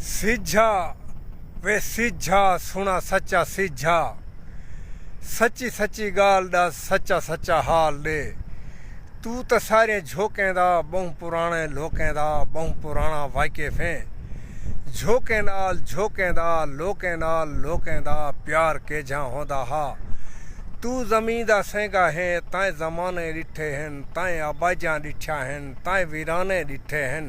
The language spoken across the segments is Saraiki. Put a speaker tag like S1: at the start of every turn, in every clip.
S1: سیجھا وے سیجھا سنڑا سچا سیجھا سچی سچی گالھ ڈس سچا سچا حال ڈے توں تاں ساریاں جھوکیں دا بہوں پرانے لوکیں دا بہوں پرانا واقف ہیں جھوکیں نال جھوکیں دا لوکیں نال لوکیں دا پیار کیجھاں ہوندا ہا توں زمیں دا سینگا ہیں تائیں زمانے ڈٹھے ہن تائیں آبائجاں ڈٹھیاں ہن تائیں ویرانے ڈٹھے ہن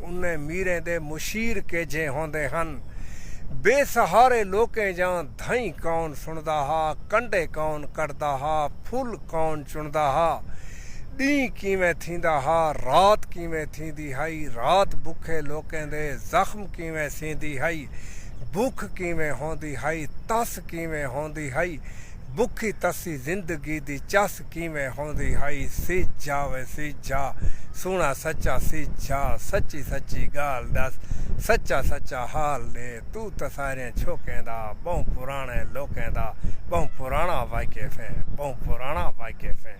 S1: انہیں میریں دے مشیر کیجھے ہوندے ہن۔ بے سہارے لوکیں جاں دھئیں کون سندا ہا، کنڈے کون کڈھدا ہا، پھل کون چندا ہا۔ ڈینہہ کیویں تھیندا ہا، رات کیویں تھیندی ہئی، رات بکھے لوکیں دے زخم کیویں سیندی ہئی، بکھ کیویں ہوندی ہئی، تس کیویں ہوندی ہئی۔ بکھی تسی زندگی دی چس کیویں ہوندی ہئی سیج جھا وے سیج جھا سوہݨا سچا سیج جھا سچی سچی ڳالھ ݙس سچا سچا حال ݙے توں تاں ساریاں چھوکیں دا ٻہوں پراݨے لوکیں دا ٻہوں پراݨا واقف ایں ٻہوں پراݨا واقف ایں۔